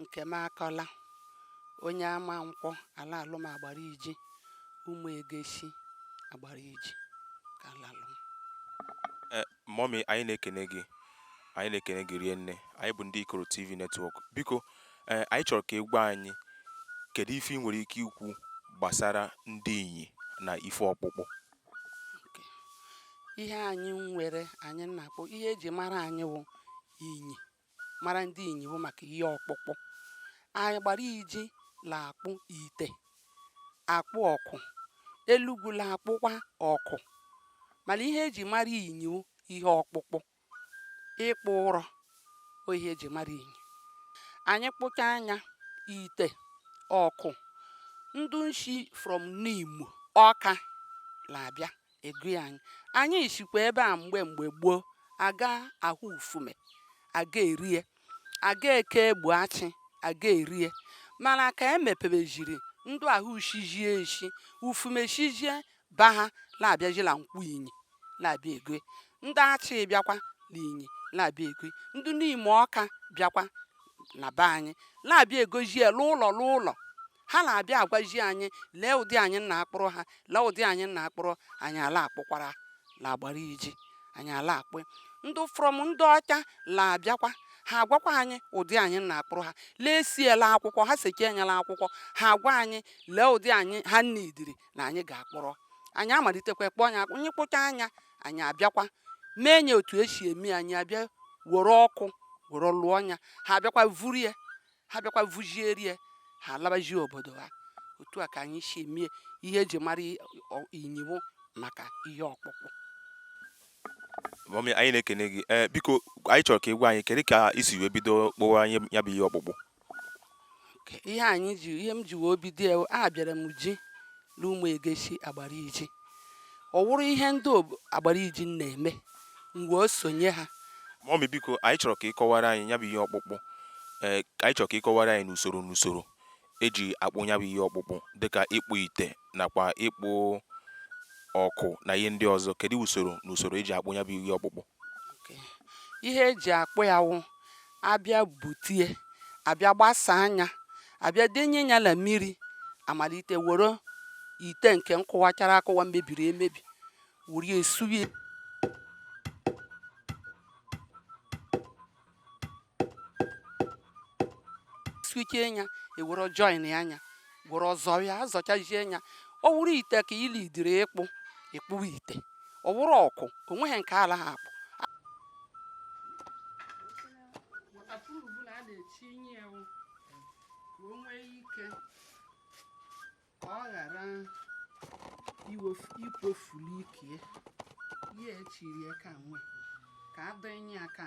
nkemakọla onye amankwọ a la-alụ m agbariji ụmụ egeshi agbariji ka a la-alụ m eh, mọmi anyị na-ekene gị anyị na-ekene gị rinne anyị bụ ndị ikoro tv netwọk biko eh, anyị chọrọ ka ị gwa anyị kedu ife ị nwere ike ikwu gbasara ndị inyi na ife ọkpụkpụ ihe anyị nwere anyị na-akpọ ihe eji mara anyị wụ inyi mara ndị inyi wụ maka ihe ọkpụkpụ anyị agbariji la-akpụ ite akpụ ọkụ elugwu la-akpụkwa ọkụ mana ihe eji mara inyi wụ ihe ọkpụkpụ ịkpụ ụrọ ọ ihe eji mara inyi anyị kpụchaa nya ite ọkụ ndụ nshi from nimo ọka la-abịa egui anyị anyị shikwa ebe a mgbe mgbe gboo aga ahọ ufume aga orie aga eke egbo achị aga orie mana ka e mepebejiri ndụ ahụ shijie eshi ufume shijie be ha na-abịajila nkwọ inyi na-abịa egui ndị achị bịakwa na inyi na-abịa egui ndị nimo ọka bịakwa na be anyị na-abịa egoji ya l'ụlọ l'ụlọ ha na-abịa agwaji anyị lee ụdị anyị na-akpụrụ ha lee ụdị anyị na-akpụrụ anyị ala akpụkwara la agbariji anyị ala akpụ ndị from ndị ọcha la-abịakwa ha agwakwa anyị ụdị anyị na-akpụrụ ha lee esie la akwụkwọ ha sekee nya la akwụkwọ ha agwa anyị lee ụdị anyị ha needịrị na anyị ga-akpụrụ anyị amalitekwa kpụọ nya akpụ anyị kpụchaa nya anyị abịakwa mee nya otu esi eme anyị abịa were ọkụ were lụọ nya ha abịakwa vuru ya ha bịakwa vujiri ya ha alabaji obodo ha otu a ka anyị si eme ihe eji mara inyi wụ maka ihe ọkpụkpụ mọmị anyị na-ekene gị ee biko anyị chọrọ ka ị gwa anyị kedu ka i si wee bido kpụwa nya bụ ihe ọkpụkpụ ihe anyị ji ihe m ji wee bido ya abịara m ji n'ụmụ egeshi agbariji ọ wụrụ ihe ndị agbariji na-eme m wee sonye ha mọmi biko anyị chọrọ ka ị kọwara anyị ya bụ ihe ọkpụkpụ ee anyị chọrọ ka ị kọwara anyị n'usoro n'usoro eji akpụ ya bụ ihe ọkpụkpụ dịka ịkpụ ite nakwa ịkpụ ọkụ na ihe ndị ọzọ kedu usoro na usoro eji akpụ ya bụ ihe ọkpụkpụ ihe eji akpụ ya wụ abịa butie abịa gbasaa nya abịa denye ya na mmiri amalite were ite nke nkụwachara akụwa mebiri emebi were sụwa sụchaa ya ewere join nya were azọ ya azọchazie ya ọ wụrụ ite ka ili dịrị ịkpụ ị kpụwa ite ọ wụrụ ọkụ o nweghị nke a la-aha akpụ ka ọ ghara ikpofuli ike ya echiri ka nwe ka adịnye aka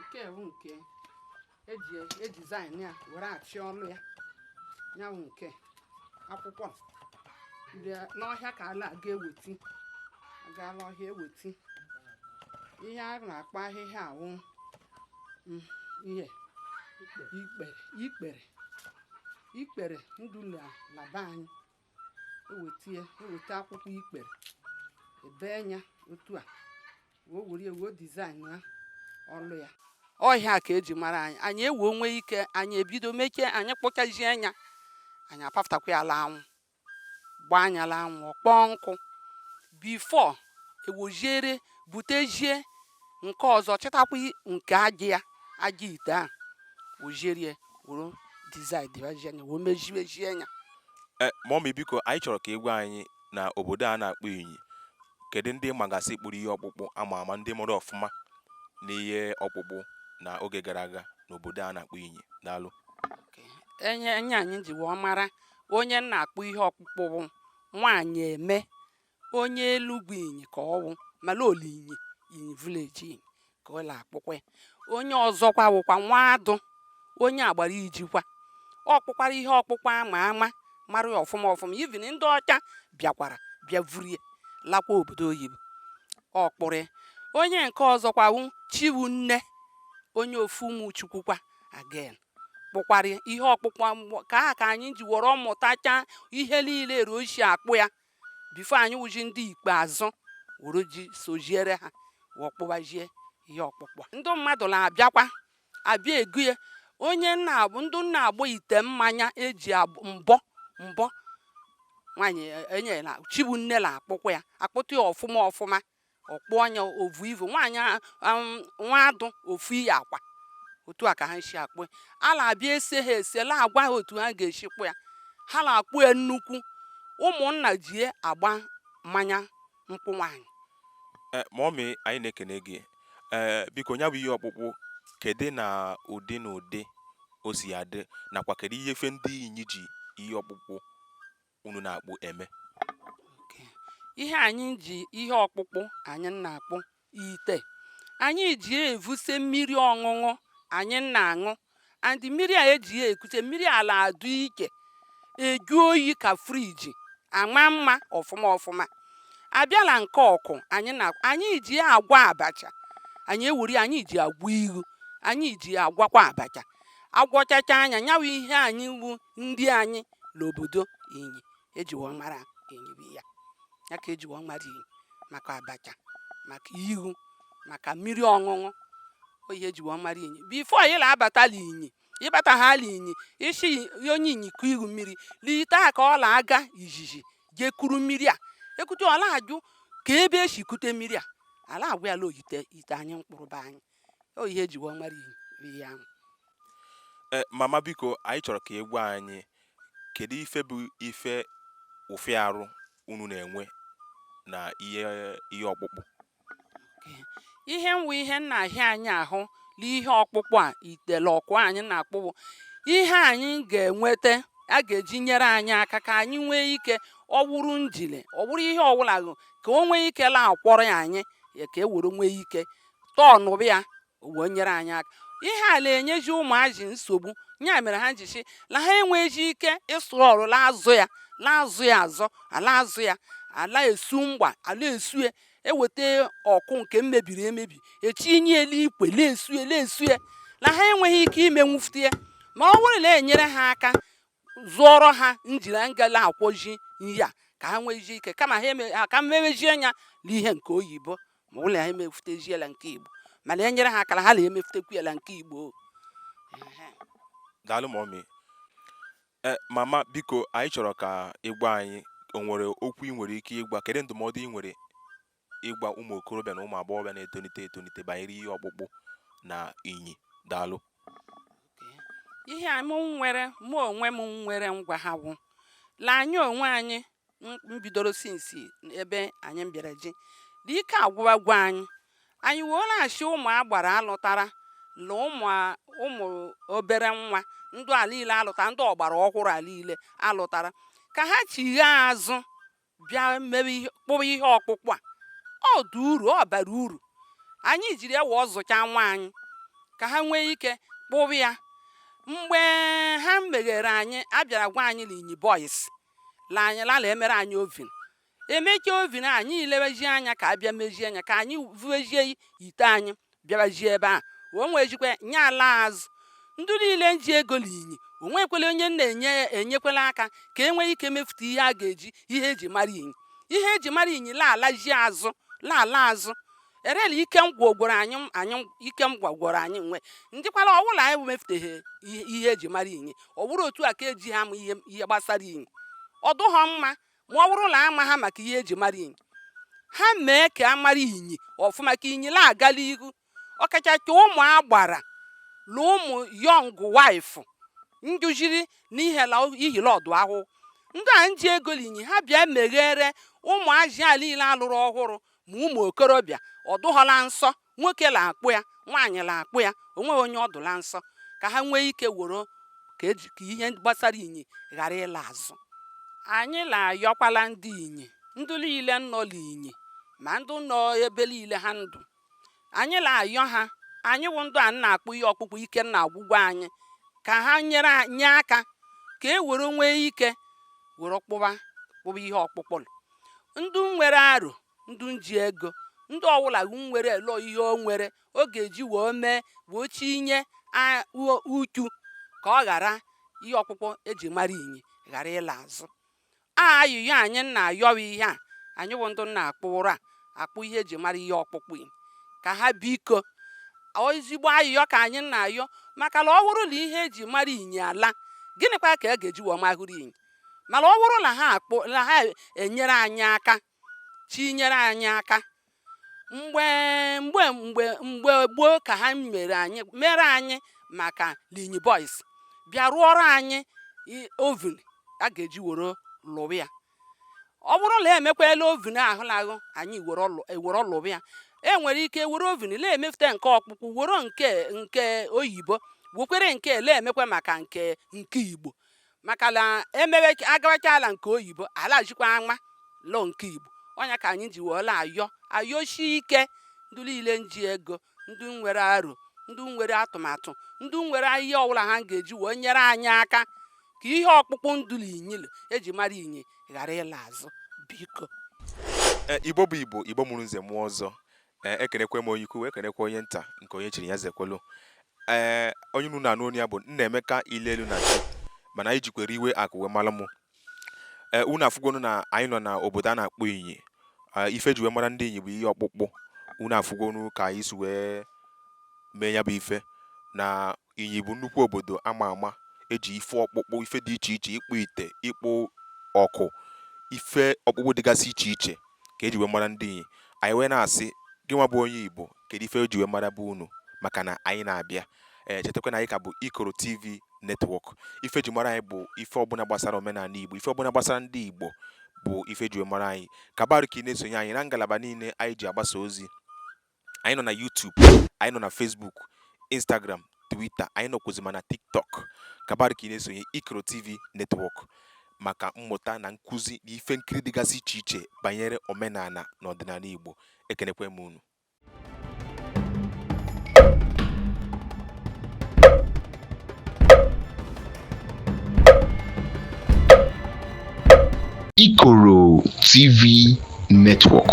nke wụ nke eji edesign ya were achị ọnụ ya ya wụ nke akwụkwọ n'ọhịa ka a na-aga ewete a gaa la ọhịa ewete ihe a na-akpọ ahịhịa awụ mm, ihe ikpere ikpere ikpere dụ la be anyị eweta ya eweta akwụkwọ ikpere ebee nya otu a wee were ya wee design ya ọlụ ya ọhịa ka eji mara anyị anyị ewee nwee ike anyị ebido mechie anyị kpụchazie nya anyị apafụtakwa ya la anwụ gbaa nya la anwụ ọ kpọọ nkụ before e weziere butezie nke ọzọ chịtakwa nke aja ya aja ite a weziere were design dịbazie nya wee mezibezie nya e, mummy biko anyị chọrọ ka ị gwa anyị na obodo a na-akpọ inyi kedu ndị magasị kpụrụ ihe ọkpụkpụ ama ama ndị mere ọfụma n'ihe ọkpụkpụ na oge gara aga n'obodo a na-akpọ inyi daalụ onye onye anyị ji wee mara onye na-akpụ ihe ọkpụkpụ wụ nwaanyị eme onye elugwu inyi ka ọ wụ mala ọ l'inyi inyi village inyi ka ọ na-akpụkwa ya. onye ọzọkwa wụkwa nwaadụ onye agbarijikwa ọ kpụkwara ihe ọkpụkpụ ama ama mara ya ọfụma ọfụma even ndị ọcha bịakwara bịa vuru ya lakwa obodo oyibo ọ kpụrụ ya onye nke ọzọkwa wụ chiwunne onye ofu ụmụ chukwu kwa again kpụkwara ya ihe ọkpụkpụ ka anyị ji were mụtacha ihe niile ruo isi akpụ ya before anyị wụzi ndị ikpeazụ were soziere ha wee kpụbazie ihe ọkpụkpụ a. ndị mmadụ na-abịakwa abịa ego ya onye nna abụ ndị na-agbọ ite mmanya eji abụ- mbọ mbọ nwaanyị enyela chibu nne na-akpụkwa ya akpụta ya ọfụma ọfụma ọ kpụọ nya o vuo ivu nwaanyị nwaadụ ofu ihe akwa otu a ka ha si akpụ a la-abịa ese ha ese la-agwa ha otu ha ga-esi kpụ ya ha na-akpụ ya nnukwu ụmụnna ji agba mmanya nkwụ nwaanyị eh, mummy anyị na-ekene gị ee eh, biko nya bụ ihe ọkpụkpụ kedu na ụdị na ụdị o si adị nakwa kedu ihe ife ndị inyi ji ihe ọkpụkpụ unu na-akpụ eme ihe anyị ji ihe ọkpụkpụ anyị na-akpụ ite anyị ji evuse mmiri ọṅụṅụ anyị na-aṅụ and mmiri a eji ekute mmiri a la-adụ ike eju oyi ka friji ama mma ọfụma ọfụma a bịa la nke ọkụ anyị na anyị ji agwa abacha anyị ewuri anyị ji agwa iwu anyị ji agwakwa abacha agwọchacha anya nyawa ihe anyị wu ndị anyị l'obodo inyi ejiwo mara inyi bụ ya ka ejiwo mara inyi maka abacha maka iwu maka mmiri ọṅụṅụ ọ ihe ejiwo mara inyi bifo ị la-abata l'inyi ị bataha l'inyi ị sị onye inyi kụ ihu mmiri l'ite ka ọ la-aga izizi je kuru mmiri a ekute ọ la-ajụ ka ebe e si kute mmiri a a la-agwa ya la ọ ite ite anyị mkpụrụ be anyị ọ ihe eji wee mara ihe ahụ e, mama biko anyị chọrọ ka ị gwa anyị kedu ife bụ ife ọfịa arụ unu na-enwe na ihe ọkpụkpụ ihe nwa ihe na-ahịa anyị ahụ na ihe ọkpụkpụ a ite la ọkụ anyị na-akpụ wụ ihe anyị ga-enweta a ga-eji nyere anyị aka ka anyị nwee ike ọ wụrụ njin ọ wụrụ ihe ọwụla ka o nwee ike la-akwọrọ ya anyị ka e were nwee ike tọọnụba ya ọ wee nyere anyị aka ihe a la-enyezi ụmụazị nsogbu ya mere ha ji sị la ha enweghị ike ịsụ ụrọ la-azọ ya la-azọ ya azọ a la-azọ ya a la-esu mgbe a la-esu ya eweta ọkụ nke mmebiri emebi etinye elu ikwe la-esu ya la-esu ya la ha enweghị ike imenwufute ya ma ọ wụrụ la e nyere ha aka zụọrọ ha njin nga la-akwọzi ihe a ka ha nwezie ike kama ha eme ha ka mmewezie anya n'ihe nke oyibo ma ọ wụ la ha emefuteziela nke igbo mana e nyere ha aka la ha la-emefutekwuela nke igbo daalụ mọmi e, mama biko anyị chọrọ ka ị gwa anyị o nwere okwu ị nwere ike ịgwa kedu ndụmọdụ ị nwere ịgwa ụmụ okorobịa na ụmụ agbọghọbịa na-etonite etonite banyere ihe ọkpụkpụ na inyi daalụ ihe a m nwere mụ onwe m nwere ngwa ha wụ la anyị onwe anyị mbidoro sinsi ebe anyị bịara ji dị ike agwụwago anyị anyị wee la-asị ụmụ agbara a lụtara na ụmụ ụmụ obere nwa ndụ a liile a lụtara ndị ọgbara ọhụrụ a liile a lụtara ka ha chighaa azụ bịa mewe ihe kpụwa ihe ọkpụkpụ a ọ dị uru ọ bara uru anyị jiri ya wo zụcha nwa anyị ka ha nwee ike kpụwa ya mgbe ha meere anyị a bịara gwa anyị na inyi boys la a la-emere anyị ovin e mechaa ovin a anyị elewezie anya ka a bịa mezie ya ka anyị vuezie ite anyị bịabazie ebe ahụ o nwee jikwa nye ala azụ ndị niile nji ego l'inyi o nwekwala onye na-enye ya enyekwala aka ka e nwee ike mefute ihe a ga-eji ihe eji mara inyi ihe eji mara inyi laalazi azụ laala azụ erela ike m gwogworo anyị anyị ike m gwagworo anyị nwe ndịkwala ọwụla anyị mefụteghị ihe eji mara inyi ọ bụrụ otu a ka eji ha m ihe ihe gbasara inyi ọ dụghọ mma ma ọ bụrụ na ama ha maka ihe eji mara inyi ha mee ka a mara inyi ọfụma ka inyi na-agala ihu ọkachacha ụmụ agbara na ụmụ young wife njụjiri n'ihi la ihi la ọ dụ ahụ ndị a nji ego l'inyi ha bịa meghere ụmụ azị a niile a lụrụ ọhụrụ ma ụmụ okorobịa ọ dụghọ la nsọ nwoke la akpụ ya nwaanyị la akpụ ya onweghị onye ọ dụ la nsọ ka ha nwee ike woro ka eji ka ihe gbasara inyi ghara ịla azụ anyị la ayọkwala ndị inyi ndị niile nọ n'inyi ma ndị nọ ebe niile ha ndụ anyị la ayọ ha anyị wụ ndụ a na-akpụ ihe ọkpụkpụ ike na-agwụgwọ anyị ka ha nyere a- nye aka ka e were nwee ike were kpụwa kpụwa ihe ọkpụkpụ ndị nwere aro ndụ nji ego ndị ọwụla nwere lọ ihe o nwere ọ ga-eji wee mee wee chinye uchu ka ọ ghara ihe ọkpụkpụ eji mara inyi ghara ịla azụ a ayụyọ anyị na-ayọ ihe a anyị wụ ndụ na-akpụ ụra akpụ ihe eji mara ihe ọkpụkpụ ka ha biko ezigbo ayụyọ ka anyị na-ayọ maka na ọ wụrụ na ihe eji mara inyi ala gịnịkwa ka a ga-eji wee mahụrụ inyi mana ọ wụrụ na ha akpụ na ha enyere anyị aka chinyere anyị aka mgbe mgbe mgbe mgbe gboo ka ha mere anyị mere anyị maka l'inyi boys bịa rụọrọ anyị i- oven a ga-eji were lụwa ya ọ bụrụ na emekwala oven ahụ lahụ anyị were ọlụ- ewere lụwa ya e nwere ike were oven na-emefute nke ọkpụkpụ were nke nke oyibo wekwere nke ele emekwa maka nke nke igbo maka na emewe agawachala nke oyibo ala jikwa ama lọ nke igbo ọ nya ka anyị ji wee la ayọ ayọshi ike ndị niile nji ego ndị nwere aro ndị nwere atụmatụ ndị nwere ihe ọbụla ha ga-eji wee nyere anyị aka ka ihe ọkpụkpụ ndụ l'inyi eji mara inyi ghara ịla azụ biko e, igbo bụ igbo igbo mụrụ nze mụọ ọzọ Ee, ekenekwe m onye ukwu wee kenekwa onye nta nke onye chiri ya zekwelu. Ee, onye unu na-anụ onu ya bụ Nnaemeka Ilelu na chi mana anyị jikwere iwe akụ wee mara mụ. Ee, unu afụgonu na anyị nọ na obodo a na-akpọ Inyi. Ee, ife e ji wee mara ndị Inyi bụ ihe ọkpụkpụ. Unu afụgonu ka anyị si wee mee ya bụ ife na Inyi bụ nnukwu obodo a ma ama e ji ife ọkpụkpụ, ife dị iche iche, ịkpụ ite, ịkpụ ọkụ, ife ọkpụkpụ dịgasị iche iche ka e ji wee mara ndị Inyi. Anyị wee na-asị, gị nwa bụ onye Igbo, kedu ife e ji wee mara bụ unu? Maka na anyị na-abịa. Ee, chetakwa na anyị ka bụ Ikoro TV Network. Ife e ji mara anyị bụ ife ọbụla gbasara omenala Igbo, ife ọbụla gbasara ndị Igbo bụ ife e ji wee mara anyị. Kabarụ ka ị na-esonye anyị na ngalaba niile anyị ji agbasa ozi. anyị nọ na YouTube anyị nọ na Facebook Instagram Twitter anyị nọkwụzi ma na TikTok kabarụ ka ị na-esonye Ikoro TV Network maka mmụta na nkụzi na ife nkiri dịgasị iche iche banyere omenala na ọdịnala Igbo ekenekwe m unu Ikoro TV Network.